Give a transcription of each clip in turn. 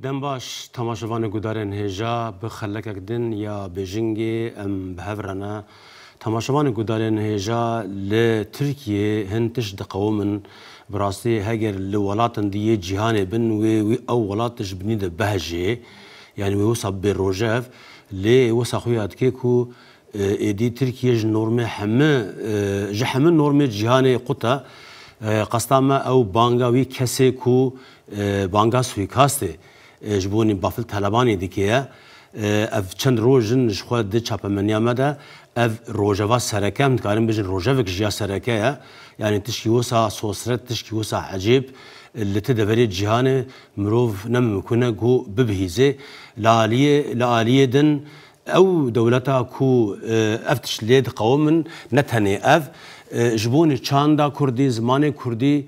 Dem baş, temaşevanê gudarên hêja bi xelekek din ya Bêjingê em bi hev re ne. Temaşevanê gudarên hêja li Tirkiyê hin tişt diqewimin. Bi rastî heger li welatin di yê cîhanê bin wê wî ew welat tişt binî di behejê. Yanî wê wisa bibê rojev. Lê wisa xwe ya dike ku êdî Tirkiye ji normê heme ji heme normê cîhanê qut e. Qesta me ew banga wî kesê ku Banga suîkastê ji bo nî Bafil Telebanî dike ye. Ev çend roj in ji xwe di çapemeniya me de. Ev rojeva sereke em dikarin bijin rojevek ji ya sereke ye. Yanî tişkî wisa sosret, tişkî wisa ecêb li ti deverê cîhanê mirov ne mimkun e ku bibihîze. Li aliyê li aliyê din ew dewleta ku ev tişt lê diqewimin ne tenê ev ji bo nî çanda kurdî, zimanê kurdî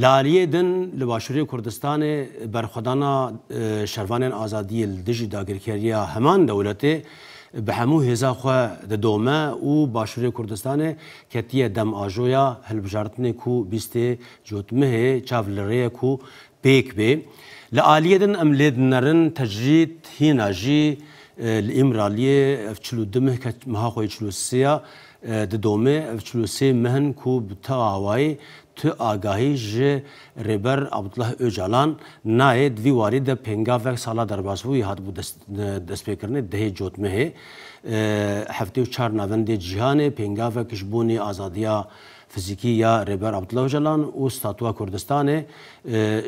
Li aliyê din li Başûrê Kurdistanê berxwedana şervanên azadiyê li dijî dagirkeriya heman dewletê bi hemû hêza xwe didome û Başûrê Kurdistanê ketiye dem ajoya hilbijartinê ku bîstê cotmihê çav li rêye ku pêk bê. Li aliyê din em lê dinerin tecrîd hîna jî li Îmraliyê ev çil û du mih ket meha xwe yê çil û sê ya Di domê ev çil û sê meh in ku bi tu awayî, tu agahî ji Rêber Abdullah Ocalan nayê. Di vî warî de pêngavek sala derbasbûyî hatibû destpêkirinê dehê cotmehê. Heftê û çar navendê cîhanê pêngavek ji bo nê azadiya fizîkî ya Rêber Abdullah Ocalan û Statuwa Kurdistanê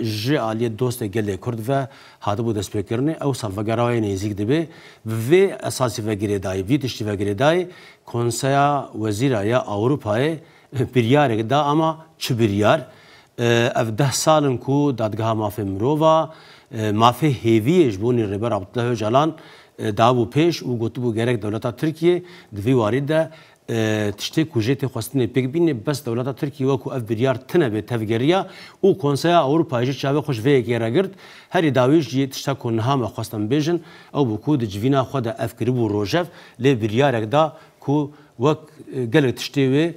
ji aliyê dostê gelê Kurd ve hatibû destpêkirinê, ew salvegera wê nêzîk dibê. Bi vê esasî ve girêdayî vî tiştî ve girêdayî Konseya Wezîra ya Ewropayê biryarek da ama çi biryar? Ev deh sal in ku Dadgeha Mafên Mirova mafê hêviyê ji bonî Rêber Abdullah Ocalan dabû pêş û gotibû gerek dewleta Tirkiyê di vî warî de Tiştê ku jê tê xwestinê pêk bînê bes dewleta Tirkî wek ku ev biryar tine bê tevgeriya û Konseya Ewropayê jî çavê xwe ji vê yekê re girt. Herî dawî jî tişta ku niha me xwest em bêjin ew bû ku di civîna xwe de ev kiribû rojev lê biryarek da ku wek gelek tiştê wê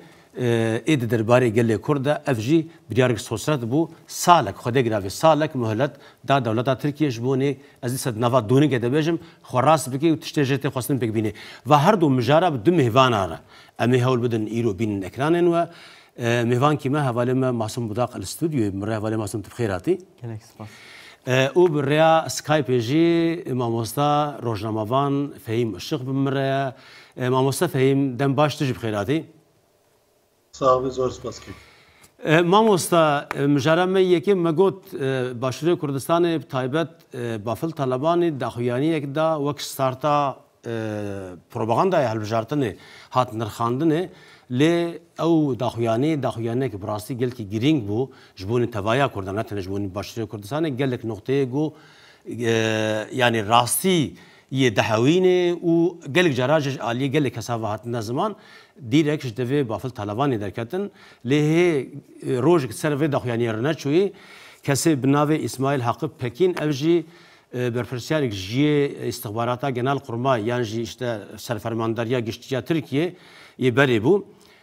ê di derbarê gelê Kurd de ev jî biryarek sosret bû salek xwedê giravê salek muhelet da dewleta Tirkî ji bo nê Ez dîsa di nava donîgê de bêjim, xwe rast bikê û tiştê jê tê xwestin pêk bînê. Va her du mijara bi du mêvana re. Em ê hewl bidin îro bînin ekranên we. Mêvankî me hevalê me Masum Budaq li studyoyê min re. Hevalê Masum tu bi xêr hatî. Gelek spas. Û bi rêya Skypê jî mamosta rojnamevan Fehîm Işiq bi min re ye. Mamosta Fehîm dem baş tu jî bi xêr hatî. Sax bî zor spas kek. Mamosta mijara me yekem me got Başûrê Kurdistanê bi taybet Bafil Talebanî daxuyaniyek da wek starta propagandaya hilbijartinê hat nirxandinê lê ew daxuyanî daxuyaniyek bi rastî gelkî girîng bû ji bonî tevaya Kurdan ne tenê ji bonî Başûrê Kurdistanê gelek noqteyê got yanî rastî yê dihewîne û gelek caran jî ji aliyê gelek kesan ve hatine ziman, dîrek ji devê Bafil Talabanê derketin, lê hê rojek di ser vê daxuyaniyê re neçûyî, kesê bi navê Îsmaîl Haqi Pekîn ev jî berpirsiyarek ji yê Îstixbarata Genelkurmay yan jî îşte Serfermandariya Giştî ya Tirkiyê yê berê bû,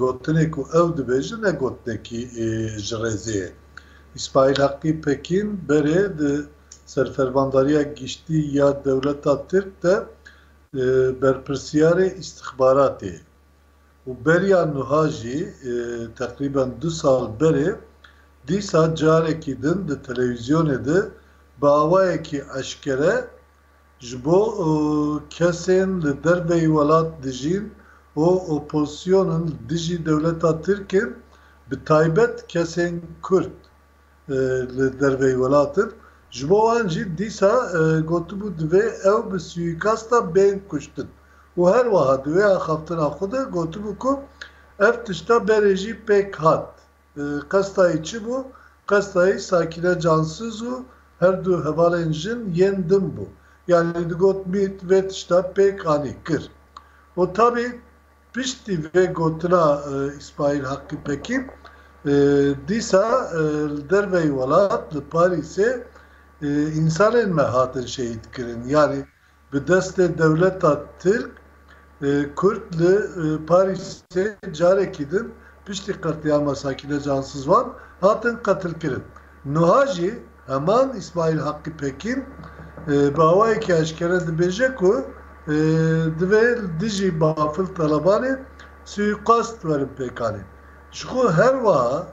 Gotinê ku ew dibêje ne gotinekî ji rêzê ye. Îsmaîl Heqî Pekîn berê di Serfermandariya Giştî ya Dewleta Tirk de berpirsiyarê îstixbaratê ye û beriya nuha jî teqrîben du sal berê dîsa carekî din di telewîzyonê de bi awayekî eşkere Ji bo kesên li derveyî welat dijîn û opozîsyon in li dijî dewleta Tirk in, bi taybet kesên Kurd li derveyî welat in, ji bo wan jî dîsa gotibû divê ew bi sûîkasta bên kuştin û her wiha di wê axaftina xwe de gotibû ku ev tişta berê jî pêk hat. Qestayî çi bû? Qestayî Sakîne Cansiz û her du hevalên jin yên din bû. Yanî digot mît vê tişta pêk anî kir. Û tabî piştî vê gotina Îsmaîl Haqî Pekî dîsa li derveyî welat li Parîsê însanên me hatin şehîdkirin. Yanî Bi destê dewleta Tirk, Kurd li Parîsê carekî din piştî qetlîama Sakîne Cansizwan hatin qetilkirin. Nuha jî heman Îsmaîl Haqî Pekîn bi awayekî eşkere dibêje ku divê li dijî Bafil Talebanê suîqast werin pêkanê. Ji xwe her wiha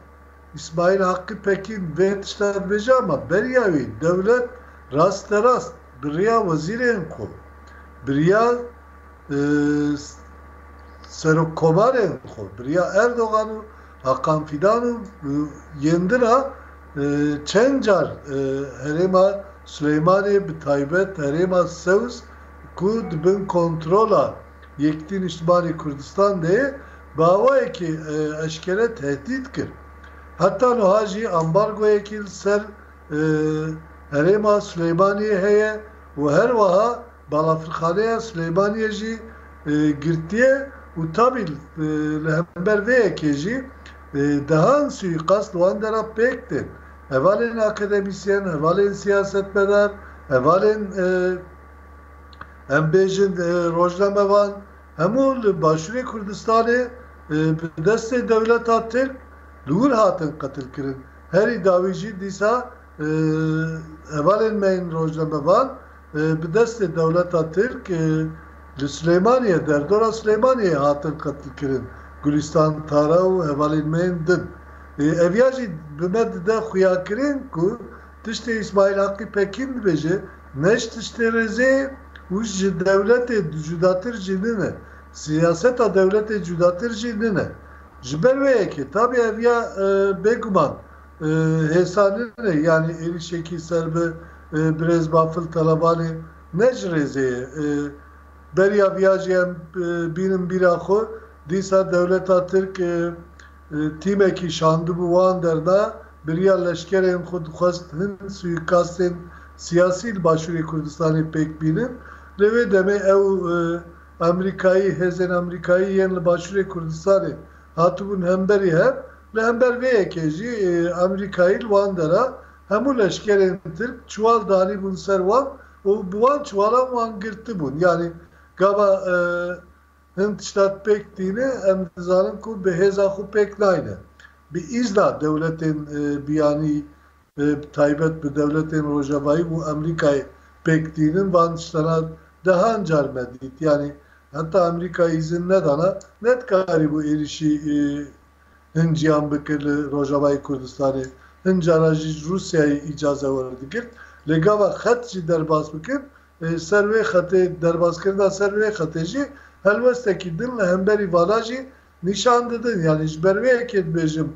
Îsmaîl Haqî Pekîn vê tişta dibêje ama beriya wî dewlet rasterast bi riya wezîrên xwe, bi riya serokkomarên xwe, bi riya Erdogan û Hakan Fîdan û yên din a çend car herêma Silêmanê bi taybet herêma Sewz ku di bin kontrola Yekîtî Nîştimanê Kurdistan de ye, bi awayekî eşkere tehdît kir. Heta nuha jî ambargoyekî li ser herêma Silêmaniyê heye û her weha balafirxaneya Silêmaniyê jî girtiye û tabî li hember vê yekê jî dehan sûîqast wan de re pêk tên, hevalên akademîsyen, hevalên siyasetmedar, hevalên. Em bêjin rojnamevan hemû li Başûrê Kurdistanê bi destê dewleta Tirk li wir hatin qetilkirin. Herî dawî jî dîsa hevalên me yên rojnamevan bi destê dewleta Tirk li Silêmaniyê, derdora Silêmaniyê hatin qetilkirin. Gulîstan Tara û hevalên me yên din. Ev ya jî bi me dide xuyakirin ku, Tiştê Îsmaîl Haqî Pekîn dibêje, ne ji tiştê rêzê ye û ji dewletê cudatir jî nine, siyaseta dewletê cudatir jî nine. Ji ber wê yekê tabî ev ya bêguman hêsa nine, yanî êrîşekî ser bi birêz Bafil Talabanê ne ji rêzê ye. Beriya viya jî em bînin bîra xwe, dîsa dewleta Tirk, Tîmekî şandibû wan der da biriya leşkerên xwe dixwest hin suîkastên siyasî li Başûrê Kurdistanê pêk bînin. Lê wê demê ew Amerîkayî hêzên Amerîkayî yên li Başûrê Kurdistanê hatibûn hemberî hev. Li hember vê yekê jî Amerîkayî li wan dera hemû leşkerên Tirk çiwal danîbûn ser wan û bi wan çiwalan wan girtibûn. Yanî gava. Hin tişta pêk tîne, em dizanin ku bi hêza xwe pêk nayne. Bi îzna dewletên biyanî bi taybet bi dewletên rojevayî û Amerîkayê pêk tînin van tiştana dehan car me dît. Yanî heta Amerîka îzin nedana nedikarîbû êrîşî hin ciyan bike li rojavayê Kurdistanê. Hin cara jî ji Rûsyayê îcaze werdigirt. Lê gava xet jî derbas bikin Ser vê xetê, derbazkirina ser vê xetê jî helwestekî din li hemberî vana jî nîşan didin. Yanî ji ber vê yekê dibêjim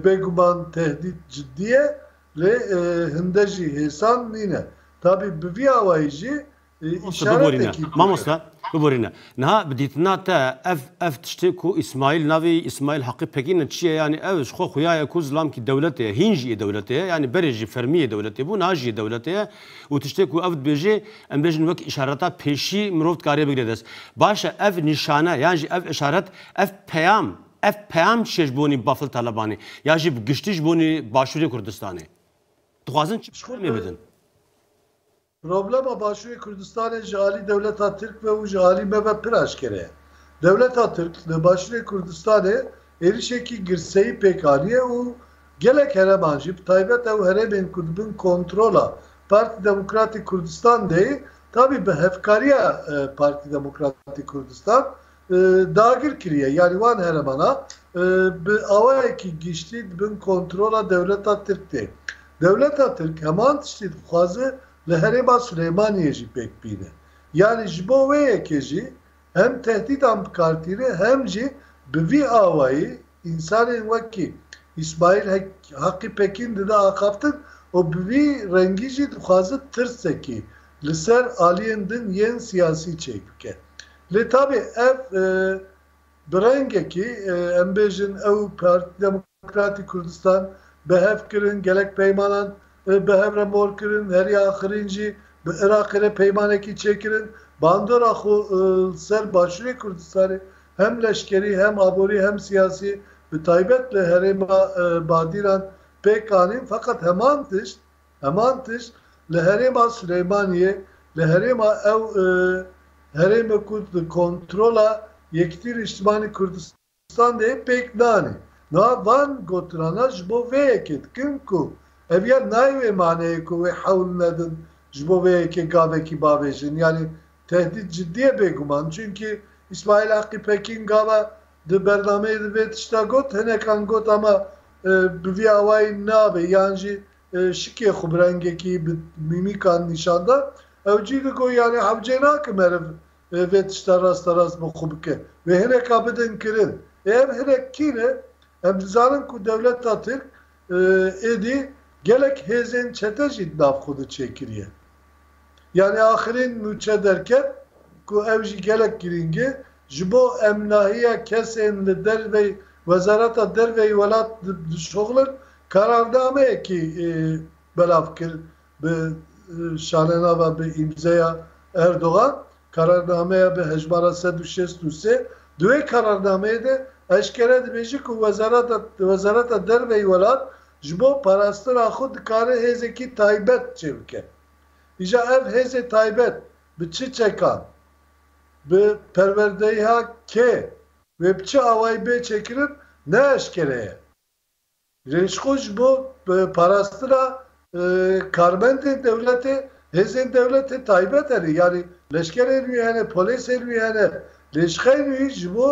bêguman tehdît cidî ye lê hinde jî hêsan nîne. Tabî bi vî awayî jî îşaretekî bû. Mamoste biborîne. Niha bi dîtina te ev ev tiştê ku Îsmaîl navê Îsmaîl Haqî Pekîn e çi ye? Yanî ew ji xwe xuya ye ku zilamkî dewletê ye. Hîn jî yê dewletê ye. Yanî berê jî fermî yê dewletê bû, niha jî yê dewletê ye. Û tiştê ku ev dibêjê, em bêjin wek îşareta pêşî mirov dikarê bigire dest. Baş e ev nîşane yan jî ev îşaret, ev peyam, ev peyam çi ye ji bonî Bafil Talebanî ya jî bi giştî ji bonî Başûrê Kurdistanê? Dixwazin çi peyamê bidin? Problema Başûrê Kurdistanê ji alî dewleta Tirk ve û ji alî me ve pir aşkere ye. Dewleta Tirk li Başûrê Kurdistanê êrişekî girseyî pêk aniye û Gelek hereman jî bi taybet ew herêmên ku dibin kontrola Partî Demokratîk Kurdistan de yê tabî bi hevkariya Partî Demokratîk Kurdistan dagir kiriye yanî wan heremana bi awayekî giştî dibin kontrola dewleta Tirk de. Dewleta Tirk heman tiştî dixwaze li herêma Silêmaniyê jî pêk bîne. Yanî ji bo wê yekê jî hem tehdîdan bikartîne hem jî bi vî awayî însanên wekî Îsmaîl Haqî Pekîn dide axaftin û bi vî rengî jî dixwaze tirsekî li ser aliyên din yên siyasî çêk bike. Lê tabî ev bi rengekî em bêjin ew Partî Demokratîk. Demokratîk Kurdistan bi hev kirin, gelek peymanan bi hev re mor kirin, herî axirîn jî bi Iraqê re peymanekî çêkirin. Bandora xwe li ser Başûrê Kurdistanê hem leşkerî, hem aborî, hem siyasî bi taybet li herêma Badîran pêk anîn feqet heman tişt, heman tişt li herêma Silêmaniyê, li herêma ew herême ku di kontrola Yekîtî Nîştimanî Kurdistanê. Standê pêk danê. Niha van gotirana ji bo vê yekê dikin ku ev ya nayê wê maneyê ku wê hewl nedin ji bo vê yekê gavekî bavêjin. Yanî tehdît cidî ye bêguman. Çunkî Îsmaîl Haqî Pekîn gava di bernameyê de vê tişta got, hinekan got ama bi vî awayî nabe yan jî şikê xwe bi rengekî, bi mîmîkan nîşan da. Ew cî digot yanî hewcê nake meriv Wê vê tişta rasterast bo xwe bike. Wê hireka bidin kirin. Ê ev hirek kî ne? Em dizanin ku dewleta Tirk êdî gelek hêzên çete jî di nav xwe de çêkiriye. Yanî axirîn nûçe derket ku ew jî gelek girîng e. Ji bo emnahiya kesên li derveyî Wezareta Derveyî welat dişoxilin, kararnameyekî belav kir Bi şalenava bi îmzeya Erdogan, kararnameya bi hejmara sed û şêst û sê di wê kararnameyê de eşkere dibêje ku wezareta Wezareta Derve yê welat ji bo parastina xwe dikare hêzekî taybet çêbike. Îja ev hêzê taybet bi çi çekan, bi perwerdeyiha kê wê bi çi awayî bê çêkirin ne eşkere ye. Rêjxo ji bo parastina karmendên dewletê, hêzên dewletê taybet hene, yanî leşkerên wî hene, polêsên wî hene. Rêjxeyên wî ji bo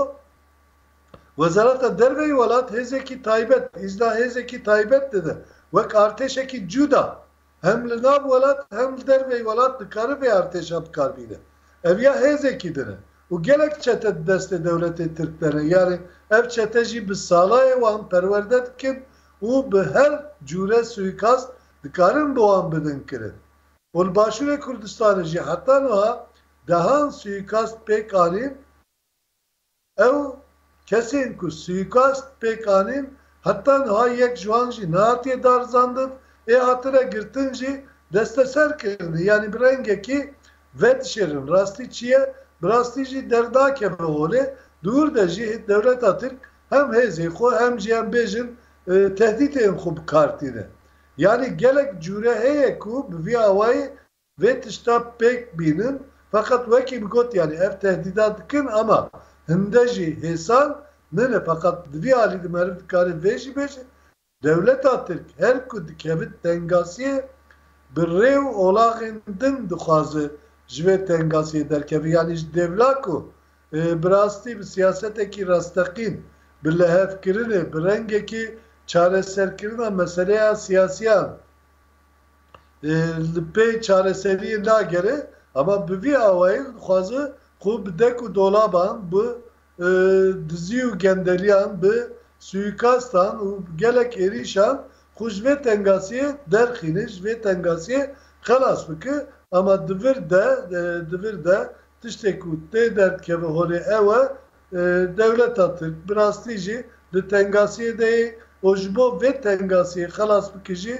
Wezareta Derveyî welat hêzekî taybet, îzna hêzekî taybet dide, wek artêşekî cûda Hem li nav welat hem li derveyî welat dikare vê artêşa bikar bîne. Ev ya hêzekî din e û gelek çete di destê dewletê tirk de ne. Yarê ev çete jî bi salayê wan perwerde dikin û bi her cûre suîkast dikarin bi wan bidin kirin. Û li Başûrê Kurdistanê jî heta nuha dehan suîkast pêk anîn. Ew kesên ku suîkast pêk anîn heta niha yek ji wan jî nehatiye darizandin ê hatine girtin jî desteser kirin yanî bi rengekî vedişêrin rastî çi ye bi rastî jî dernakeve holê di wir de jî dewleta tirk hem hêzên xwe hem jî em bêjin tehdîtên xwe bi kar tîne yanî gelek cûre heye ku bi vî awayî Vê tişta pêk bînin feqet wekî bi got yanî ev tehdîda dikin ama hinde jî hêsan nine feqet di vî alî de meriv dikarê vê jî bêje dewleta tirk her ku dikevit tengasiyê bi rê û olaxên din dixwaze ji vê tengasiyê derkeve yanî ji dêvla ku bi rastî bi siyasetekî rasteqîn bi lihevkirinê bi rengekî çareserkirina meseleya siyasiyan li pey çareseriyê nagere ama bi vî awayî dixwaze xwe bi dek û dolaban, bi dizî û gendeliyan, bi suîkastan û gelek êrîşan xwe ji vê tengasiyê derxîne, ji vê tengasiyê xelas bike ama di vir de di vir de tiştê ku tê derdikeve holê ew e Dewleta Tirk bi rastî jî di tengasiyê de yê û ji bo vê tengasiyê xelas bike jî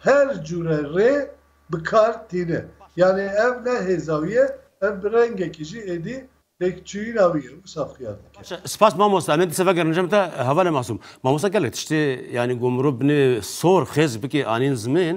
her cûre rê bi kar tîne. Yanî ev ne hêza wî ye, ev bi rengekî jî êdî têkçûyîna wî ye wisa xuya dike. Spas mamosta, em ê dise vegerin cem te Hevalê Masûm. Mamosta gelek tiştê yanî ku mirov binê sor xêz bikê anîn zimên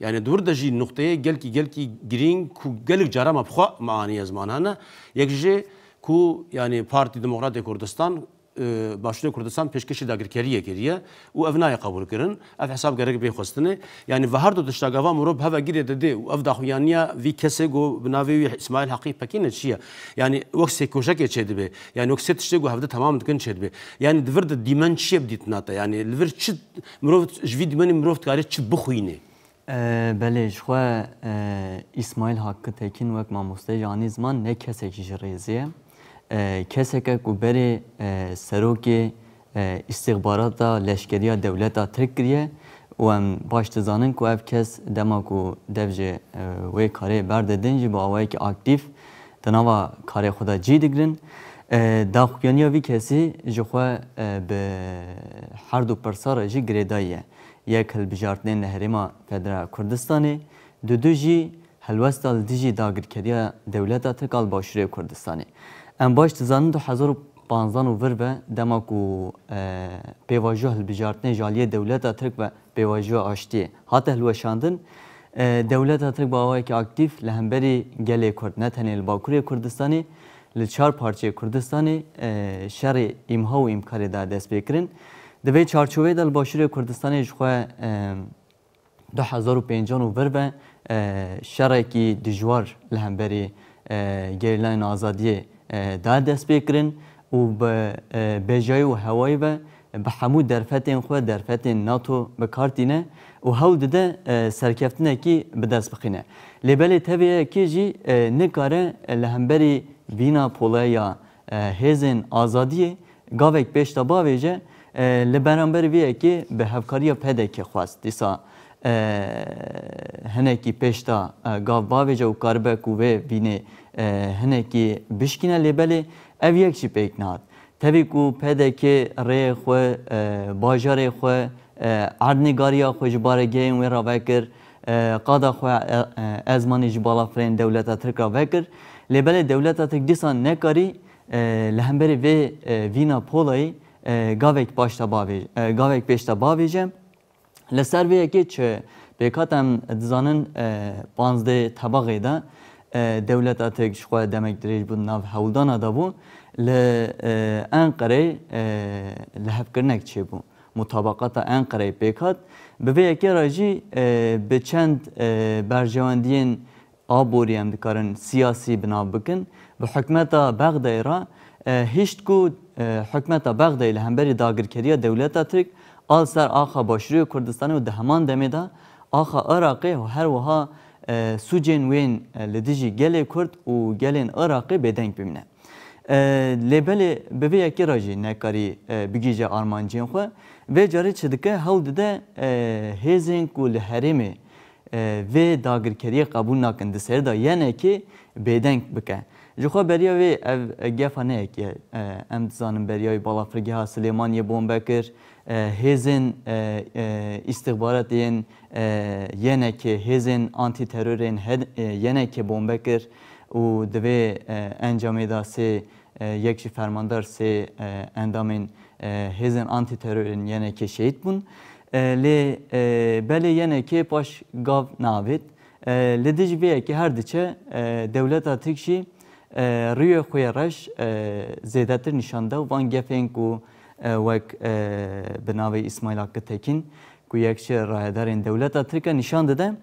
Yanî di wir de jî nuqteyê gelkî gelkî girîng ku gelek caran me bi xwe me aniye ziman hene. Yek jî ku yanî Partî Demokratê Kurdistan Başûrê Kurdistan pêşkêşî dagirkeriyê kiriye û ev nayê qebûlkirin. Ev hesab gerek bê xwestinê. Yanî vi her du tişta gava mirov bi hev ve girê didê û ev daxuyaniya vî kesê ku bi navê wî Îsmaîl Heqî Pekîn e çi ye? Yanî wek sê koşekê çêdibê. Yanî wek sê tiştê ku hevdî temam dikin çêdibê. Yanî di vir de dîmen çi ye bi dîtina te? Yanî li vir çi Mirov ji vî dîmenê mirov dikarê çi bixwînê? Belê, ji xwe Îsmaîl Hakkı Tekin wek mamosteyê jî anî ziman ne kesekî ji rêzê ye. Kesek e ku berê serokê îstîxbarata leşkerîya dewleta Tirk kiriye û em baş dizanin ku ev kes dema ku dev ji wê karê berdidin jî bi awayekî aktîf Di nava karê xwe de cî digirin. Daxuyaniya vî kesî ji xwe bi herdu pirsa re jî girêdayî ye. Yek hilbijartinên li Herêma Federal Kurdistanê, du du jî helwesta li dijî dagirkeriya dewleta Tirk a li Başûrê Kurdistanê. Em baş dizanin du hezar û panzdeh û vir ve dema ku pêvajoya hilbijartinê ji aliyê dewleta Tirk ve Pêvajoya aştiyê hate hilweşandin. Dewleta Tirk bi awayekî aktîf li hemberî gelê Kurd ne tenê li Bakurê Kurdistanê, li çar parçeyê Kurdistanê şerê îmha û îmkarê da destpêkirin. Di vê çarçoveyê de li Başûrê Kurdistanê ji xwe du hezar û pêncan û vir ve şerekî dijwar li hemberî Gerîlayên Azadiyê da destpêkirin û bi bejayî û hewayî ve bi hemû derfetên xwe, derfetên NATO bi kar tîne û hewl dide serkeftinekî bi dest bixîne. Lê belê tevî ye kê jî nikare li hemberî vîna poleya hêzên azadiyê gavek pêş de bavêje. Li beramberî vê yekê bi hevkariya PDKê xwest dîsa hinekî pêş de gav bavêje û karibe ku vê vînê hinekî bişkîne. Lê belê Ev yek jî pêk nehad. Tevî ku pdk rê xwe, bajarê xwe, erdnîgariya xwe ji barê gehên wê re vekir, qada xwe ezmanî ji bala firên dewleta Tirk re vekir, lê belê dewleta Tirk dîsa nekarî li hemberî vê vîna polayî gavek paşta bavêje, gavek pêşta bavêje. Li ser vê yekê çi pêkhat em dizanin panzdeh tebaxê de dewleta Tirk ji xwe demek dirêj bû di nav hewldana de bû, li Enqereyê lihevkirinek çêbû, mutabaqata Enqereyê pêkhat. Bi vê yekê re jî bi çend berjewendiyên Aborî em dikarin siyasî bi nav bikin. Bi hikûmeta Bexdayê re hişt ku hikûmeta Bexdayê li hemberî dagirkeriya dewleta Tirk a li ser axa Başûrê Kurdistanê û di heman demê de axa Iraqê her wiha sûcên wên li dijî gelê Kurd û gelên Iraqê bêdeng bimîne. Lê belê bi vê yekê re jî nekarî bigihîje armancên xwe. Vê carê çi dike hewl dide hêzên ku li herêmê vê dagirkeriyê qebûl nakin di ser de yenekê bêdeng bike. Ji xwe beriya wê ev gefa ne yekê ye. Em dizanin beriya wê balafirgeha Silêmaniyê bombe kir, hêzên îstixbaratê yên yenekê, hêzên antîteror ên yenekê bombe kir û di vê encamê de sê yek jî fermandar sê endamên hêzên antîteror ên yenekê şehîd bûn. Lê belê yene kê paş gav naavêt. Li dij vê yekê her diçe dewleta Tirk jî riyê xwe yê reş zêdetir nîşan da û van gefên ku wek bi navê Îsmaîl Hakkı Tekin ku yek ji rayedarên dewleta Tirk e nîşan dide,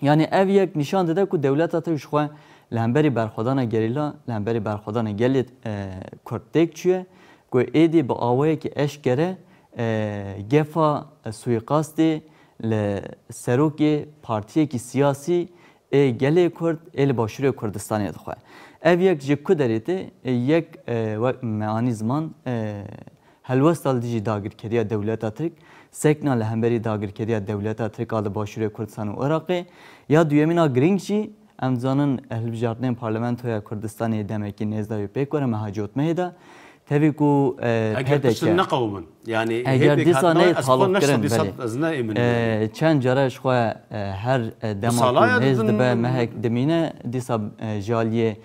Yanî ev yek nîşan dide ku dewleta te ji xwe li hemberî berxwedana gerîla, li hemberî berxwedana gelê Kurd têk çûye ku êdî bi awayekî eşkere gefa suîqastê li serokê partiyekî siyasî ê gelê Kurd ê li Başûrê Kurdistanê dixwe. Ev yek ji ku derê tê, yek wek me anî ziman, Helwesta li dijî dagirkeriya dewleta Tirk, sekna li hemberî dagirkeriya dewleta Tirk a li Başûrê Kurdisan û Iraqê, ya duyemîn a girîng jî, em dizanin hilbijartinên Parlamentoya Kurdistanê demekî nêz dayû pêk were meha cotmehê de, tevî ku Eger pişt PDK. neqewimin, yanî hê Eger pêk dîsa hatina wê, neyê ez xwe ne taloqkirin, sedî belê. sed ez ne îmin wê yanî. Çend care ji xwe her dema ku salaya hêz didin dibe mehek dimîne, dîsa ji aliyê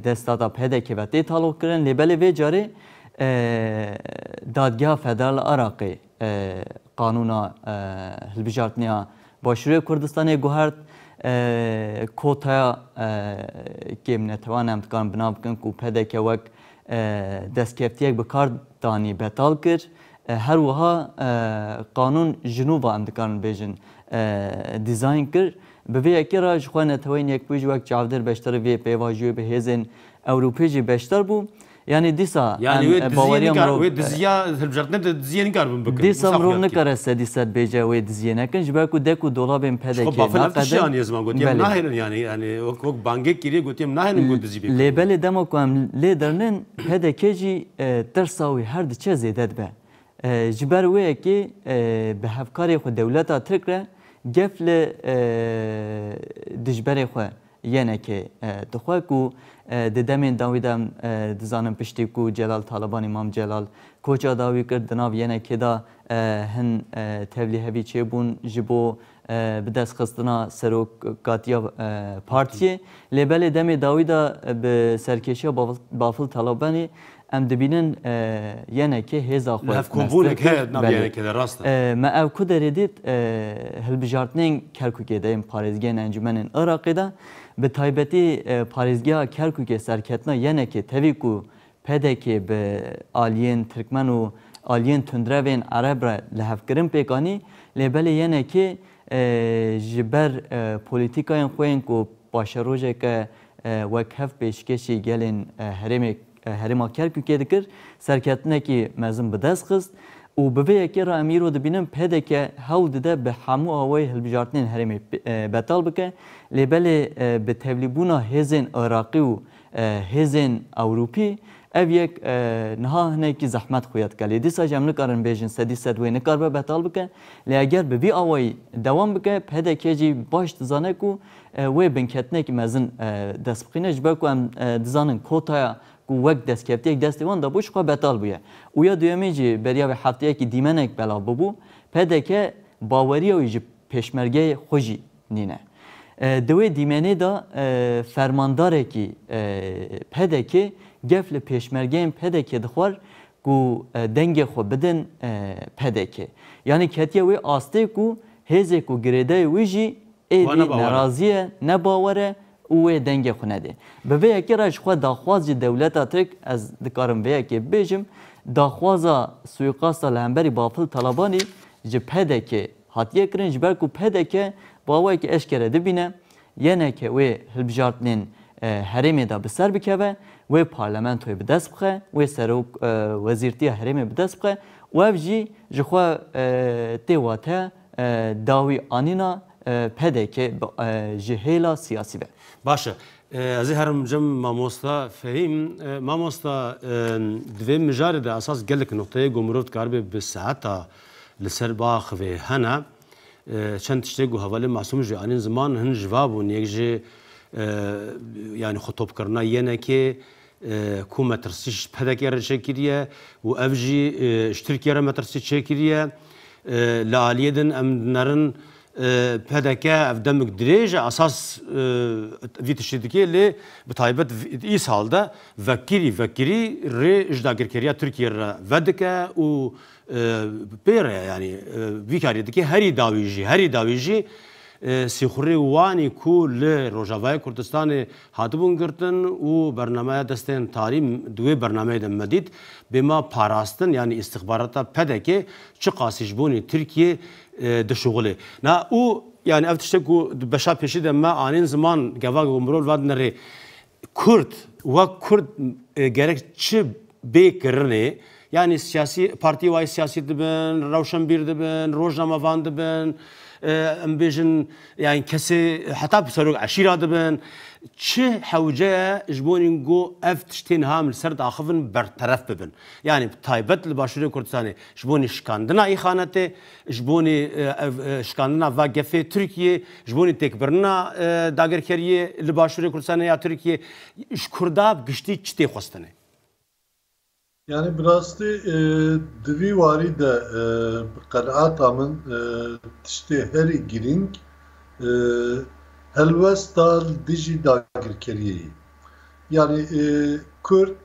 destdata PDK'ê ve tê taloqkirin lê belê vê carê, Dadgeha Federal a Iraqê qanûna hilbijartinê Başûrê Kurdistanê guhert, kotaya kê min e tevan em dikarin bi nav bikin ku pdk wek destkeftiyek bi kar danî betal kir. Her wiha qanûn ji nû ve em dikarin bêjin dîzayn kir. Bi vê yekê re ji xwe neteweyên yekbûyî jî wek çavdêr beşdarî vê pêvajoyê bi hêzên Ewropî jî beşdar bû. Yanî dîsa em baweriya mirov. Wê diziya hilbijartinê di diziyê nikaribe bikin. Dîsa mirov nikare sedî sed bêje wê diziyê nekin ji ber ku dek û dolabên PDK'ê naqedin. Ji xwe bafil ev tiştê aniye ziman gotiye em nahêlin yanî yanî wek bangek kiriye gotiye em nahêlin ku dizî bêkin. Lê belê dema ku em lê derinin PDK jî tirsa wî her diçe zêde dibe. Ji ber wê yekê bi hevkarê xwe dewleta Tirk re gef li dijberê xwe Yenekê dixwe ku di demên dawî de em dizanin piştî ku Celal Talibanî Mam Celal koça dawî kir di nav Yenekê de hin tevlî hevî çêbûn ji bo bi destxistina serokatiya partiyê lê belê demê dawî de bi serkêşiya Bafil Talibanî Em dibînin YNK hêza xwe meztir kir. Belê. Me ev ku derê dît hilbijartinên Kerkûkê de yên parêzgehên encûmenên Iraqê de bi taybetî parêzgeha Kerkûkê serketina YNKê tevî ku pdk bi aliyên tirkmen û aliyên tundrevên ereb re lihevkirin pêk anî lê belê YNKê ji ber polîtîkayên xwe yên ku paşerojeke wek hev pêşkêşî gelên herêmê herêma Kerkûkê dikir, serketinekî mezin bi dest xist û bi vê yekê re em îro dibînin pdk hewl dide bi hemû awayê hilbijartinên herêmê betal bike lê belê bi tevlîbûna hêzên Iraqî û hêzên Ewropî ev yek niha hinekî zehmet xuya dike lê dîsa jî em nikarin bêjin sedî sed wê nikaribe betal bike lê eger bi vî awayî dewam bike pdk jî baş dizane ku Wê binketinekî mezin dest bixîne ji ber ku em dizanin kotaya ku wek destkevtiyek destê wan dabû ji xwe betal bûye û ya duyemê jî beriya vê hefteyekî dîmenek belav bûbû, pdk baweriya wî ji pêşmergeyê xwe jî nîne. Di wê dîmenê de fermandarekî pdk gef li pêşmergeyên pdk dixwar ku dengê xwe bidin pdk. Yanî ketiye wê astê ku Hêzê ku girêdayê wî jî êdî nerazî ye, ne bawer e û wê dengê xwe nedê. Bi vê yekê re ji xwe daxwaz jî dewleta Tirk, ez dikarim vê yekê bibêjim, daxwaza suîqasta li hemberî Bafil Talabanî ji pdk hatiye kirin ji ber ku pdk bi awayekî eşkere dibîne Yene ke wê hilbijartinên herêmê de bi ser bikeve, wê parlamentoyê bi dest bixe, wê serok wezîrtiya herêmê bi dest bixe û ev jî ji xwe tê wate dawî anîna pdk bi ji hêla siyasî ve. Baş e. Ez ê herim cem mamosta Fehîm. Mamosta di vê mijarê de esas gelek nuqteyê ku mirov dikaribe bi seheta li ser biaxive hene. Çend tiştê ku hevalên Masûm jî anîn ziman hin ji va bûn. Yek ji yanî xwe topkirina yenekê ku metirsî ji PDK'ê re çêkiriye û ev jî ji Tirkiyeyê re metirsî çêkiriye. Li aliyê din em dinerin pdk ev demik dirêj e esas vî tiştê dike lê bi taybet îsal de vekirî vekirî rê ji dagirkeriya Tirkiyeyê re vedike û Pê re yanî vî karî dike herî dawî jî, herî dawî jî sîxurê wanî ku li Rojavayê Kurdistanê hatibûn girtin û bernameya destên tarî di wê bernameyê de me dît, bê ma parastin yanî îstixbarata PDK çi qasî ji bonê Tirkiyê dişuxulê. Na û yanî ev tişt e ku di beşa pêşî de me anîn ziman gevagh û mirov vadine rê. Kurd wek kurd gerek çi bê kirinê, yanî siyasî partiyê wayî siyasî dibin, rewşenbîr dibin, rojnamevan dibin, em bêjin yanî kesê heta serok eşîra dibin, çi hewce ye ji bo nîngo ev tiştê niha em li ser diaxivin berteref bibin. Yanî bi taybet li Başûrê Kurdistanê ji bo nîşikandina îxanetê, Ji bonê ev şikandina va gefê Tirkiyê, ji bonê têkbirina dagirkeriyê li Başûrê Kurdistanê ya Tirkiyê, ji Kurda bi giştî çi tê xwestinê? Yanî bi rastî di vî warî de bi qenaata min tiştê herî girîng helwesta li dijî dagirkeriyê ye. Yanî Kurd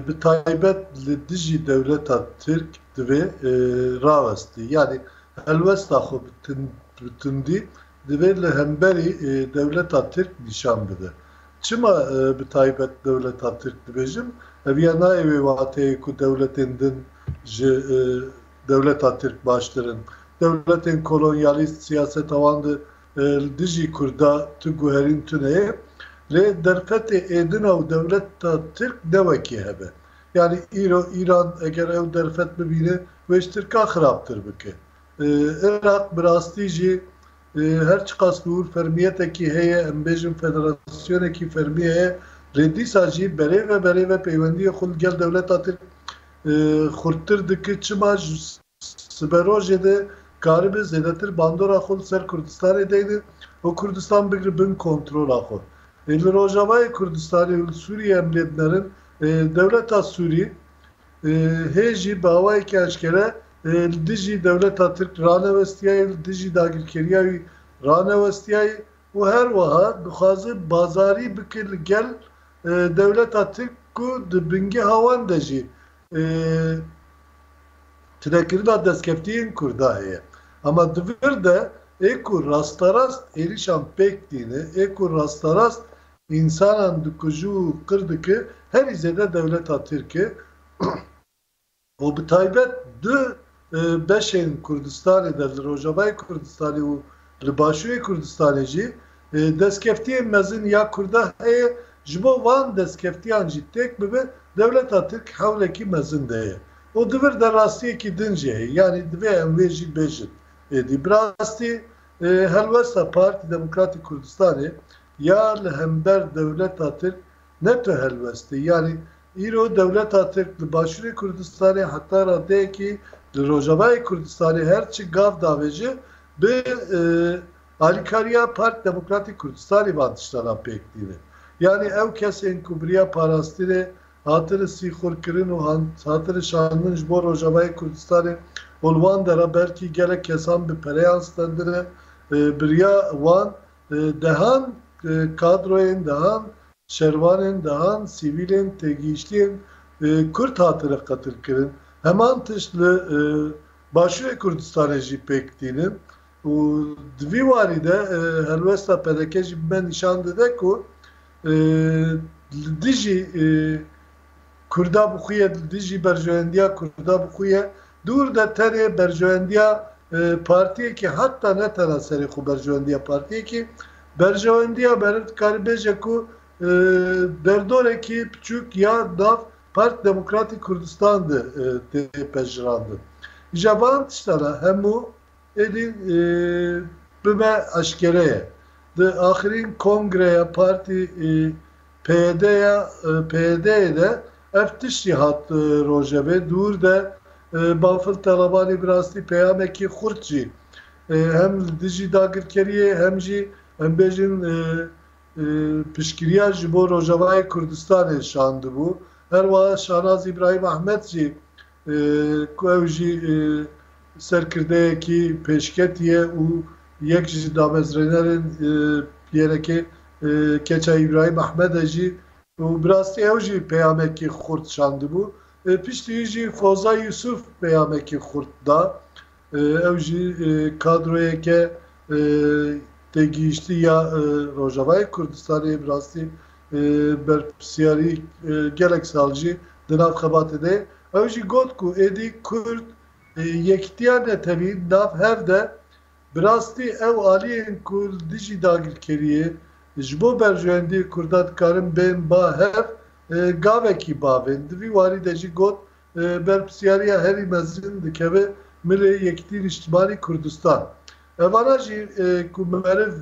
Bi taybet li dijî dewleta Tirk divê rawestî yanî helwesta xwe bi tundî divê li hemberî dewleta Tirk nîşan bide. Çima bi taybet dewleta Tirk dibêjim? Ev ya nayê wê wateyê ku dewletên din ji dewleta Tirk baştir in. Dewletên kolonyalîst siyaseta wan di Li dijî Kurda tu guherîn tune ye. Lê derfetê êdina û dewleta Tirk ne wekî hev e. Yanî îro Îran eger ew derfet bibîne wê ji Tirkan xirabtir bike. Iraq bi rastî jî her çiqas bi wir fermiyetekî heye, em bêjin federasyonekî fermî heye lê dîsa jî berêve berêve peywendiyê xwe li gel dewleta Tirk xurttir dike. Çima? Siberojê de karibe zêdetir bandora xwe li ser Kurdistanê deyne û Kurdistan bigre bin kontrola xwe. Li Rojavayê Kurdistanê û li Sûriyê em lê binerin, dewleta Sûrî hê jî bi awayekî eşkere li dijî dewleta Tirk ranewestiyayê, li dijî dagirkeriya wî ranewestiyayê û her wiha dixwaze bazarî bike li gel dewleta Tirk ku di bingeha wan de jî tunekirina destkeftiyên Kurda heye. Ama di vir de ê ku rasterast êrişan pêk tîne, ê ku rasterast însanan dikuje û qir dike herî zêde dewleta Tirk e û bi taybet du beşên Kurdistanê de, li Rojavayê Kurdistanê û li Başûrê Kurdistanê jî destkeftiyên mezin ya Kurda heye, ji bo van destkeftiyan jî têk bibe dewleta Tirk hewlekî mezin de ye û di vir de rastiyekî din jî heye. Yanî divê em wê jî bêjin êdî. Bi rastî helwesta Partî Demokratîk Kurdistanê ya li hember dewleta Tirk Ne tu helwest î. Yanî îro dewleta Tirk li Başûrê Kurdistanê heta radeyekî li Rojavayê Kurdistanê her çi gav davêje bi alîkariya Parti Demokratîk Kurdistanê van tiştanan pêk tînin. Yanî ew kesên ku biriya parastinê hatine sîxurkirin û hatine şandin ji bo Rojavayê Kurdistanê û li wan de re belkî gelek kesan bi pereyan stendine biriya wan Dehan kadroyên dehan, şervanên dehan, sivîlên têgihiştiyên Kurd hatine qetilkirin. Heman tişt li Başûrê Kurdistanê jî pêk tînin û di vî warî de helwesta pdk jî bi me nîşan dide ku li dijî Kurda bi xwe ye, li dijî berjewendiya Kurda bi xwe ye. Dûr de tenê berjewendiya partiyekê heta ne tena serê xwe berjewendiya partiyekê, berjewendiya meriv dikarî bêje ku derdorekî piçûk ya nav Parti Demokratîk Kurdistan de tê pejirandin. Îja van tiştan a hemû, Êdî bibe eşkere ye. Di axirîn kongreya partî PYD'ya PYD'yê de ev tiştî hat rojevê dûr de Bafil Talabanî bi rastî peyamekî xurt jî hem li dijî dagirkeriyê hem jî em bêjin piştgiriya ji bo Rojavayê Kurdistanê şandibû. Her wiha Şanaz Îbrahîm Ehmed jî ku ew jî serkirdeyekî pêşketî ye û yek ji damezrênerên PYRK keça Îbrahîm Ehmed e jî û bi rastî ew jî peyamekî xurt şandibû. Piştî wî jî Foza Yusuf peyamekî xurt da. Ew jî kadroyeke têgihiştî ya Rojavayê Kurdistanê ye. Bi rastî berpirsyarî gelek sal jî di nav xebatê de ye. Ew jî got ku êdî Kurd yekitiya netewî nav hev de bi rastî ew aliyên ku li dijî dagirkeriyê ji bo berjewendiyê Kurdan dikarin bên ba hev gavekî bav ên. Di vî warî de jî got berpirsyariya herî mezin dikeve milê Yekîtî Nîştimanî Kurdistan. Evara jî ku meriv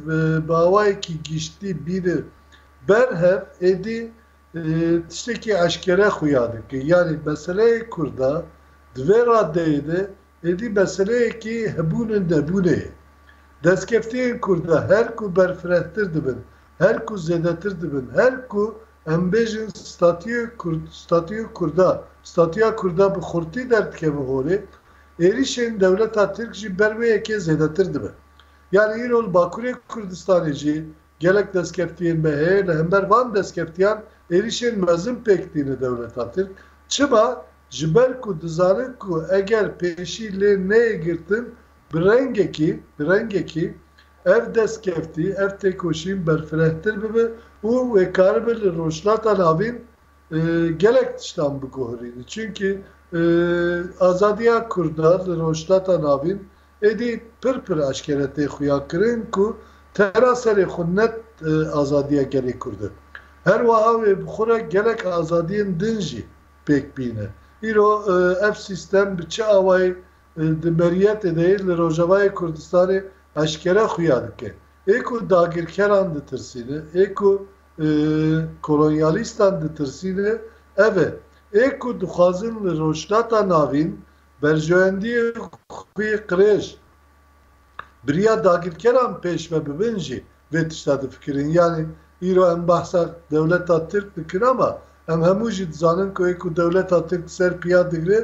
bi awayekî giştî bîne ber hev êdî tiştekî eşkere xuya dike. Yanî meseleyê kurd a di vê radeyê de Êdî meseleyekî hebûn û nebûnê ye. Destkeftiyên Kurda her ku berfirehtir dibin, her ku zêdetir dibin, her ku em bêjin statîyê Kurd, statîyê Kurda, statîya Kurda bi xurtî derdikeve holê, êrîşên dewleta Tirk jî ber wê yekê zêdetir dibe. Yanî îro li Bakurê Kurdistanê jî Gelek destkeftiyên me heye, li hember van destkeftîyan êrîşên mezin pêk tîne dewleta Tirk. Çima? Ji ber ku dizanin ku eger pêşî lê neyê girtin bi rengekî, bi rengekî ev destkeftî, ev têkoşîn berfirehtir bibe û wê karibe li Rojhilata Navîn gelek tiştan biguherîne. Çimkî azadiya Kurda li Rojhilata Navîn Êdî pir pir eşkere tê xuyakirin ku tera serê xwe ne azadiya gelê Kurd e. Her weha wê bi xwe re gelek azadiyên din jî pêk bîne. Îro ev sîstem bi çi awayî di meriyetê de yê li Rojavayê Kurdistanê eşkere xuya dike. Ê ku dagirkeran ditirsîne, ê ku kolonyalîstan ditirsîne ev e. Ê ku dixwazin li Rojhilata Navîn Berjewendiyê xwî qirêj. Biriya dagirkeran pêş ve bibin jî vê tişta difikirin. Yanî îro em behsa dewleta Tirk dikin ama em hemû jî dizanin ku ê ku dewleta Tirk ser piya digre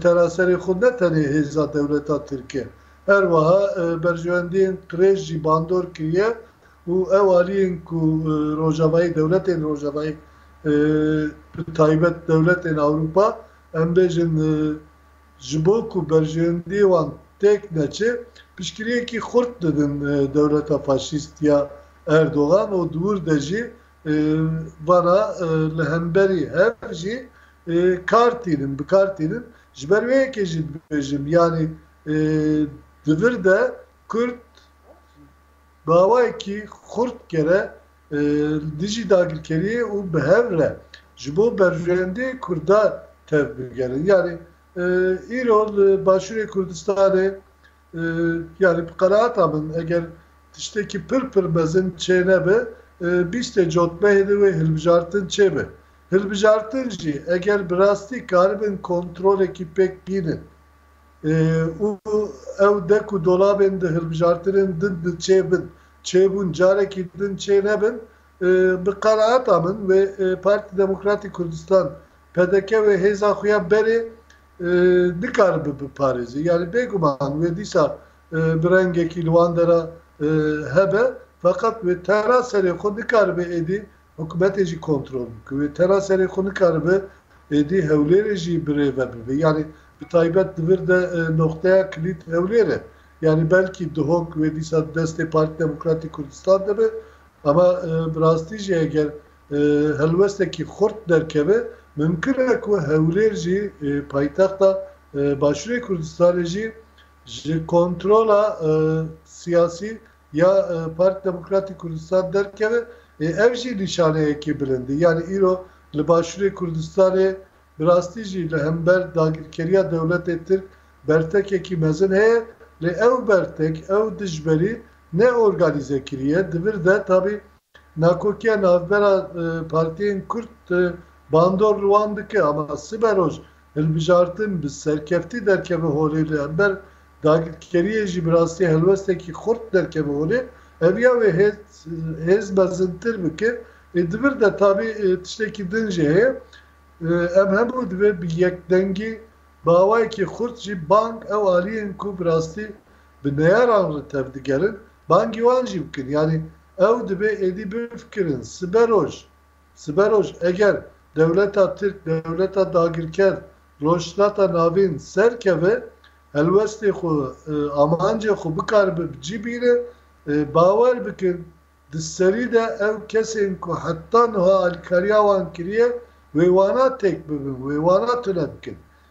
tena serê xwe ne tenê hêza dewleta Tirk e. Her wiha berjewendiyên qirêj jî bandor kiriye û ew aliyên ku rojavayî dewletên rojavayî bi taybet dewletên Ewropa Em bêjin ji bo ku berjewendiyê wan têk neçe, piştgiriyekî xurt didin dewleta faşîst ya Erdogan û di wir de jî vana li hemberî hev jî kar tînin, bi kar tînin. Ji ber wê yekê jî dibêjim yanî di vir de Kurd bi awayekî xurt kere li dijî dagirkeriyê û bi hev re ji bo berjewendê kurdan tev bigerin. Yanî îro li Başûrê Kurdistanê yanî bi qenaata min eger tiştekî pir pir mezin çênebe bîstê cotmehê de wê hilbijartin çêbe. Hilbijartin jî eger bi rastî karibin kontrolekî pêk bînin. û ew dek û dolabên di hilbijartinên din de çê bin, çê bûn carekî din çê nebin, bi qenaeta min wê Partî Demokratîk Kurdistan, pdk, wê hêza xwe ya berê nikaribe biparêze. Yanî bêguman wê dîsa bi rengekî li wan dera hebe feqet wê tena serê xwe nikaribe êdî Hikûmetê jî kontrol bû ku wê tena serê xwe nikaribe êdî Hewlêrê jî birêve bibe. Yanî bi taybet di vir de noxteya kilît Hewlêr e. Yanî belkî dihok wê dîsa di destê Partî Demokratîk Kurdistan de be. Ama bi rastî jî eger helwestekî xurt derkeve mimkun e ku Hewlêr jî paytexta Başûrê Kurdistanê jî ji kontrola siyasî ya Partî Demokratî Kurdistan derkeve ê ev jî nîşaneyekî bilind e. Yanî îro li Başûrê Kurdistanê bi rastî jî li hember dagirkeriya dewletê Tirk bertekekî mezin heye lê ew bertek, ew dijberî ne organîze kiriye. Di vir de tabî nakokiya navbera partiyên Kurd bandor li wan dike ama siberoj Hilbijartin bi serkeftî derkeve holê li hember dagirkeriyê jî bi rastî helwestekî xurt derkeve holê, heviya wê hêz mezintir bike. Ê di vir de tabî tiştekî din jî heye, em hemû divê bi yekdengî bi awayekî xurt jî bang ew aliyên ku bi rastî bi neyaran re tevdigerin bangî wan jî bikin. Yanî ew dibê êdî bifikirin sibe roj Siberoj eger dewleta Tirk, dewleta dagirker, Rojhilata Navîn serkeve, helwestê xwe, amancê xwe bikaribe bi cî bîne, bawer bikin di serî de ew kesên ku heta niha alîkariya wan kiriye wê wana têk bibin, wê wana tune bikin.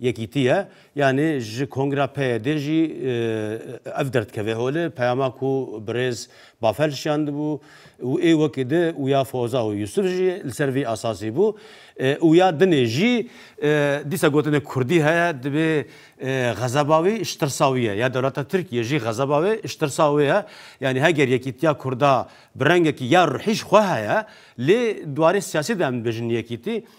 Yekîtî ye. Yanî ji Kongra PYD'ê jî ev der dikeve holê, peyama ku birêz Bafel şiyandibû û ê wekî di û ya Foza û Yusuf jî li ser vî esasî bû û ya dinê jî dîsa gotinê Kurdî heye dibê xezeba wî ji tirsa wî ye ya dewleta Tirkiyê jî xezeba wê ji tirsa wê ye. Yanî heger yekîtiya Kurda bi rengekî ya ruhî ji xwe heye lê di warê siyasî de em dibêjin yekîtî,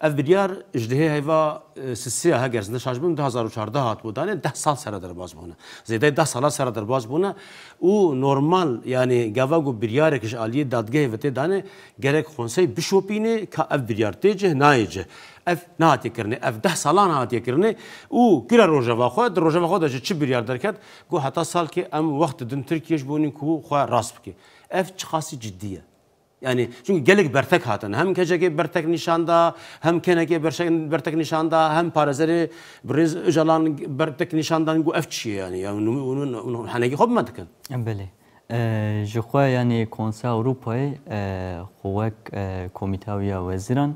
Ev biryar ji dihê heyva Sisiya heger zinde şaş bûn du hezar û çardeh hatibû danê deh sal sere derbas bûne. Zêdeyê deh salan sere derbas bûne û normal yanî gava ku biryarek ji aliyê dadgehê ve tê danê gerek konsey bişopînê ka ev biryar tê cih nayê cih. Ev nehatiye kirinê. Ev deh salan hatiye kirinê û kir e rojeva xwe. Di rojeva xwe de jî çi biryar derket ku heta salkê em wext didin Tirkiyê ji bo nî ku xwe rast bike. Ev çiqasî cidî ye. Yanî çunku gelek bertek hatin. Hem keçekê bertek nîşan da, hem kenekê bertek nîşan da, hem parêzerê birêz Ocalan bertek nîşan dan ku ev çi ye yanî hûn henekî xwe bi me dikin. Belê. Ji xwe yanî Konseya Ewropayê xwe wek Komîteya wê ya Wezîran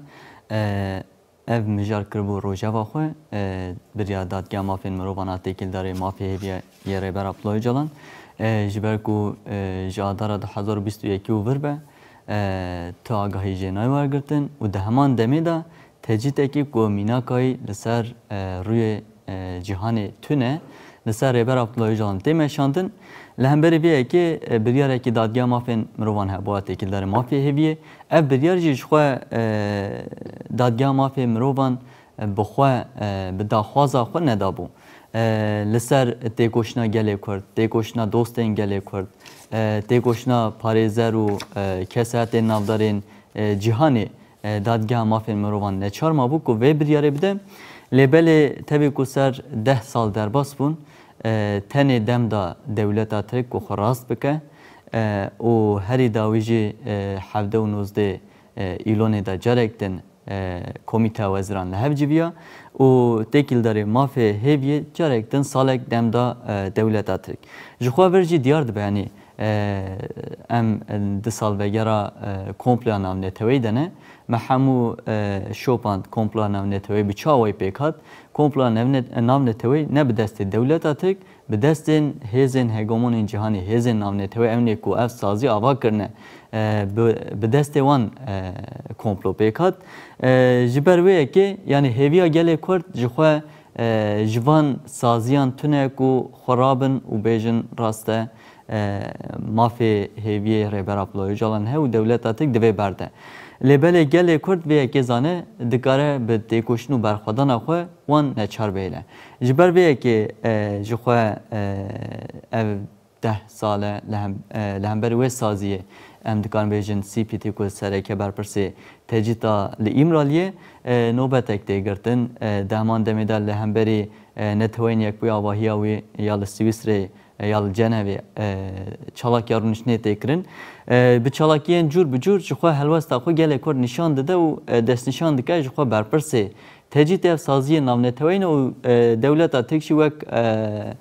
Ev mijar kiribû rojeva xwe, biryar Dadgeha Mafên Mirovan a têkildarê mafê hêviya yê Rêber Abdullah Ocalan ji ber ku ji adara du hezar û bîst û yekî û vir be tu agahî jê nayê wergirtin û di heman demê de tecrîtekî ku mînakayî li ser rûyê Cîhanê tune li ser Rêber Abdullah Ocalan tê meşandin. Li hemberî vê yekê biryarekî Dadgeha Mafên Mirovan hebûa têkildarê mafê hêviyê. Ev biryar jî jixwe Dadgeha Mafê Mirovan bi xwe bi daxwaza xwe nedabû. Li ser têkoşina gelê Kurd, têkoşina dostên gelê Kurd, têkoşina parêzer û kesaetên navdarên cîhanê Dadgeha Mafên Mirovan neçar mabû ku vê biryarê bide, lê belê tevî ku ser deh sal derbas bûn, tenê dem da dewleta Tirk ku xwe rast bike û herî dawî jî hevdeh û nozdê Îlonê da carek din Komîteya Weziran li hev civiya û têkîldarê mafê hêviyê carek din salek dem da dewleta Tirk. Ji xwe vir jî diyar dibe yanî Em di salvegera komploya navneteweyî de ne. Me hemû şopand komploya navneteweyî bi çawa wê pêk hat? Komploya navneteweyî ne bi destê dewleta Tirk, bi destên hêzên hegemonên cîhanê, hêzên navneteweyî ew ne ku ev sazî ava kirine, bi destê wan komplo pêk hat. Ji ber wê yekê yanî hêviya gelê Kurd ji xwe Ji van saziyan tune ku xwe rabin û bêjin rast e, mafê hêviyê Rêber Abdullah Ocalan he û dewleta Tirk di vê ber de. Lê belê gelê Kurd vê yekê zane dikare bi têkoşin û berxwedana xwe wan neçar bihêle. Ji ber vê yekê ji xwe ev Deh sal e li hember wê saziyê em dikarin bêjin CPT ku sereke berpirsê tecrîta li Îmraliyê nobetek tê girtin. Dehman demê de li hemberî Neteweyên Yekbûyî avahiya wî ya li Swîsreyê ya li Cenevê çalakiya rûniştinê tê kirin. Bi çalakiyên cûr bi cûr ji xwe helwesta xwe gelê kurd nîşan dide û destnîşan dike ji xwe berpirsê tecrîtê ev saziyê navneteweyî ne û dewleta Tirk jî wek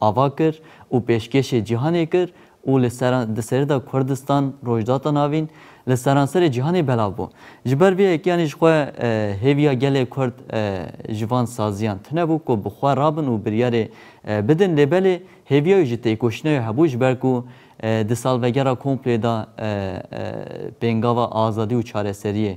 ava kir û pêşkêşê cîhanê kir û li ser di serê de Kurdistan, Rojdata Navîn li seranserê cîhanê belav bû. Ji ber vê yekê anî ji xwe hêviya gelê Kurd ji van saziyan tune bû ku bi xwe rabin û biryarê bidin lê belê hêviya wî ji têkoşîna wê hebû ji ber ku di salvegera komplê de pêngava azadî û çareseriyê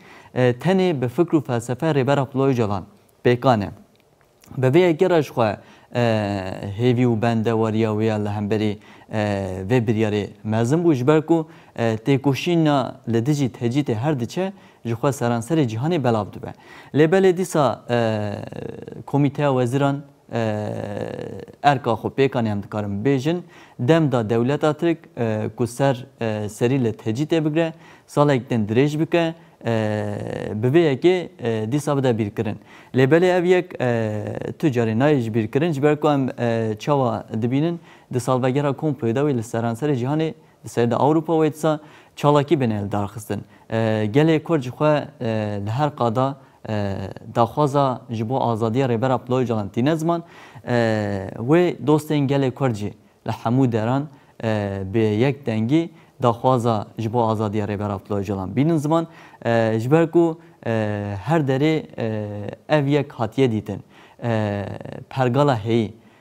Tenê bi fikr û felsefeya Rêber Abdullah Ocalan pêkan e. Bi vê yekê re jixwe hêvî û bendewariya wê ya li hemberî vê biryarê mezin bû ji ber ku têkoşîna li dijî tecrîtê her diçe jixwe seranserê cîhanê belav dibe. Lê belê dîsa Komîteya Wezîran Erka xwe pêkanê em dikarin bêjin, dem da dewleta Tirk ku ser serî li tecî tê bigre, salek din dirêj bike, bi vê yekê dîsa bide bîrkirin. Lê belê ev yek tu carê nayê ji bîr kirin ji ber ku em çawa dibînin di salvegera komployê de wê li seranserê cîhanê li ser de Ewropa wê disa çalakî bên eldarxistin. Gelê Kurd ji xwe li her qada Daxwaza ji bo azadiya Rêbera Pula Ocalan tîne ziman, wê dostên gelê Kurd jî li hemû deran bi yek dengî daxwaza ji bo azadiya Rêbera Pula Ocalan bînin ziman, ji ber ku her derê ev yek hatiye dîtin. Pergala heyî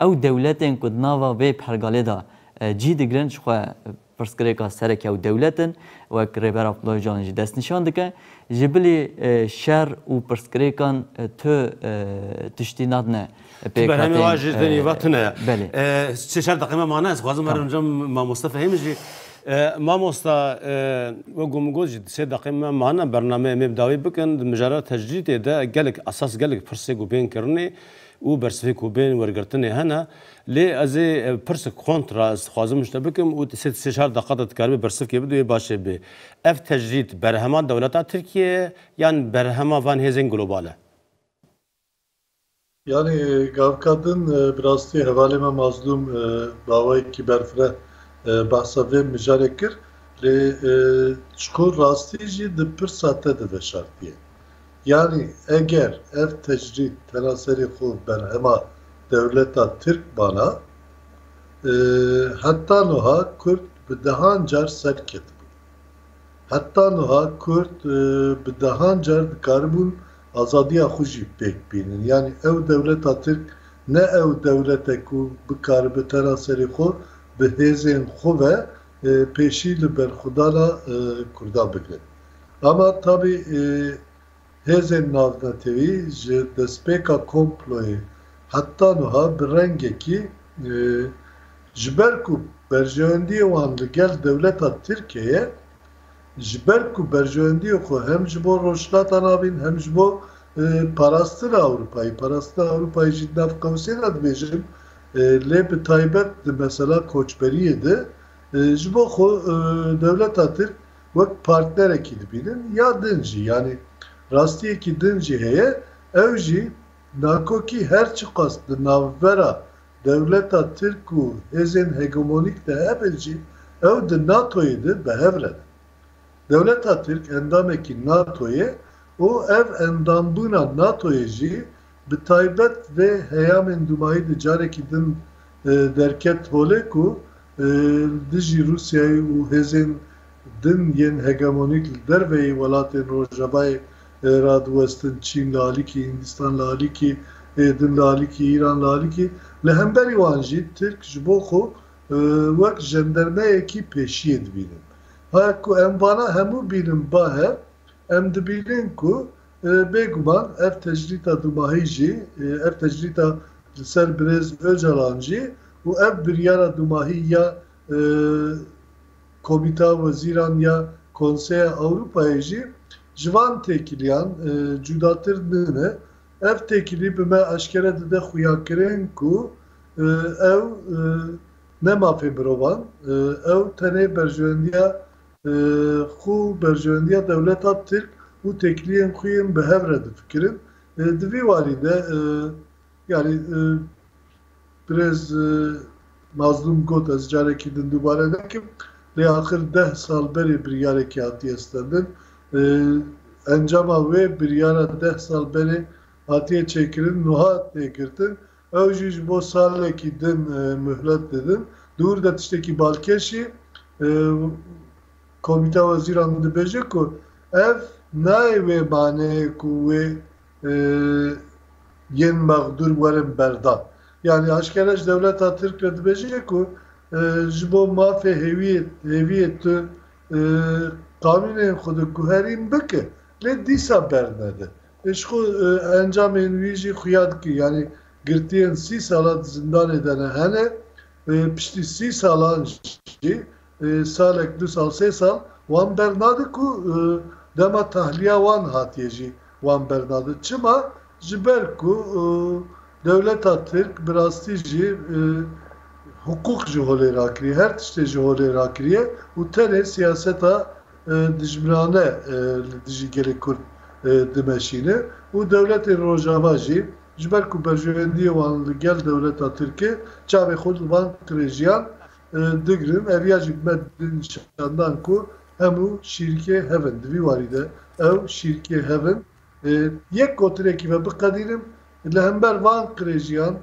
Ew dewletên ku di nava vê pergalê de cî digirin ji xwe pirsgirêka sereke ew dewlet in, wek Rêber Abdullah Ocalan jî destnîşan dike. Ji bilî şer û pirsgirêkan tu tiştî nadine pêk. Ti berhemê wan jî tenê va tune ye. Belê. Sê çar deqeyê me mane, ez dixwazim were binca Mamoste Fehîm jî. Mamosta wek ku min got jî sê deqeyê me mane, bernameyê me bi dawî bikin. Di mijara tecrîdê de gelek esas gelek pirsê ku bên kirinê û bersivê ku bên wergirtinê hene lê ez ê pirsek kontra ez dixwazim ji te bikim û tu sê çar deqa de dikaribî bersivkê bidî wê baş ê bê. Ev tecrîd berhema dewleta Tirkiyê ye yan berhema van hêzên global e? Yanî gavka din bi rastî hevalê me Mazlûm bawayekî berfireh behsa vê mijarê kir lê çiqûr rastî jî di pirsa te de veşartiye. Yanî eger ev tecrîd tena serê xwe berhema dewleta Tirk bana, heta nuha Kurd bi dehan car ser ketibû. Heta nuha Kurd bi dehan car dikaribûn azadiya xwe jî pêk bînin. Yanî ew dewleta Tirk ne ew dewlet e ku bikaribe tena serê xwe bi hêzên xwe ve pêşî li berxwedana Kurdan bigire. Ama tabî hêzên navnetewî ji destpêka komployê heta nuha bi rengekî ji ber ku berjewendiyê wan li gel dewleta Tirke ye, ji ber ku berjewendiyê xwe hem ji bo Rojhilata Navîn hem ji bo parastina Ewropayî, parastina Ewropayî jî di nav qewsê de dibêjin lê bi taybet di mesela koçberiyê de ji bo xwe dewleta Tirk, wek partnerekî dibînin ya din jî yanî rastiyekî din jî heye ew jî nakokî her çiqas di navbera dewleta Tirk û hêzên hegemonîk de hebin jî ew di NATOyê de bi hev re ne. Dewleta Tirk endamekî NATOyê û ev endambûna NATOyê jî Bi taybet vê heyamên dûmayî de carekî din derket holê ku li dijî Rûsyayê û hêzên din yên hegemonîk li derveyî welatên Rojavayê radiwestin, Çîn li alîkî, Hindîstan li alîkî, ê din li alîkî, Îran li alîkî, li hemberî wan jî Tirk ji bo xwe wek jendermeyekî pêşiyê dibînin. Ha ku em vana hemû bînin ba hev, em dibînin ku Bê guman ev tecrîta dumahî jî, ev tecrîta li ser birêz Ocalan jî û ev biryara dumahî ya Komîta Wezîran ya Konseya Ewropayê jî ji van têkiliyan cudatir nine. Ev têkilî bi me eşkere dide xuyakirên ku ew ne mafê mirovan, ew tenê berjewendiya Xwe û berjewendiya dewleta Tirk û têkiliyên xwe yên bi hev re difikirin. Di vî warî de yanî birêz Mazlûm got, ez carekî din dubare nekim, lê axir deh sal berê biryarekî hatiye stendin. Encama wê biryara deh sal berê hatiye çêkirin, nuha tê girtin Ew jî ji bo salekî din mihlet didin. Di wir de tiştekî balkêşî Komîteya Wezîran din dibêje ku ev nayê wê maneyê ku wê yên mexdûr werin berdan. Yanî aşkere ji dewleta Tirk re dibêje ku ji bo mafê hêviyê tu qanûnên xwe diguherîn bike lê dîsa bernede. Îşko encamên wî jî xuya dike. Yanî girtiyên sî sala di zindanê de ne hene. Piştî sî salan jî salek, du sal, sê sal wan bernade ku dema tahliya wan hatiye jî wan bernade. Çima? Ji ber ku dewleta Tirk bi rastî jî hiqûq ji holê rakiriye. Her tiştê ji holê rakiriye û tenê siyaseta Dijminane li dijî gelê Kurd dimeşîne û dewletên Rojava jî ji ber ku berjewendiyê wan li gel dewleta Tirkê çavê xwe li van qirêjiyan digirin. Ev ya jî me nîşan dan ku hemû şîrikê hev in. Di vî warî de ew şîrikê hev in. Li yek gotinekî ve biqedînim, li hember van qirêjiyan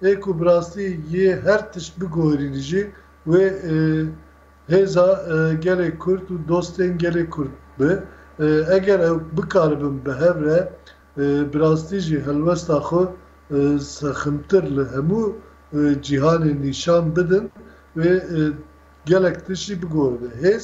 ê ku bi rastî yê her tişt biguherînî jî wê hêza gelê Kurd û dostên gelê Kurd bi. Eger ew bikaribin bi hev re, bi rastî jî helwesta xwe sexmtir li hemû cîhanê nîşan bidin wê gelek tişt jî biguherîne. Hêz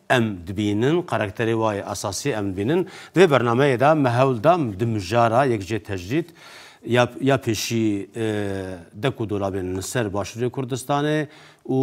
Em dibînin, karakterê wa yê esasî em dibînin. Di vê bernameyê de me hewl da di mijara yek jê tecrîd ya ya pêşî de ku dolabên li ser Başûrê Kurdistanê û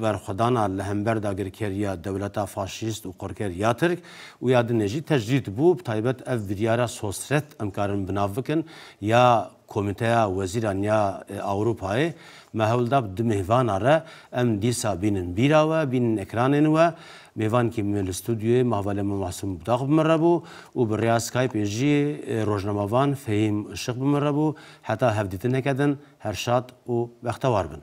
berxwedana li hember dagirkeriya dewleta faşîst û qorker ya Tirk û ya din e jî tecrîd bû. Bi taybet ev biryara sosret em karin bi nav bikin ya Komîteya Wezîran ya Ewropayê me hewl da bi du mêhvana re em dîsa bînin bîra we, bînin ekranên we. Mêhvankî me li stûdyoyê Mahvale me Masûm Butaq bi min re bû û bi rêya Skypê jî rojnamevan Fehîm Işık bi min re bû. Heta hevdîtineke din her şad û bextewar bin.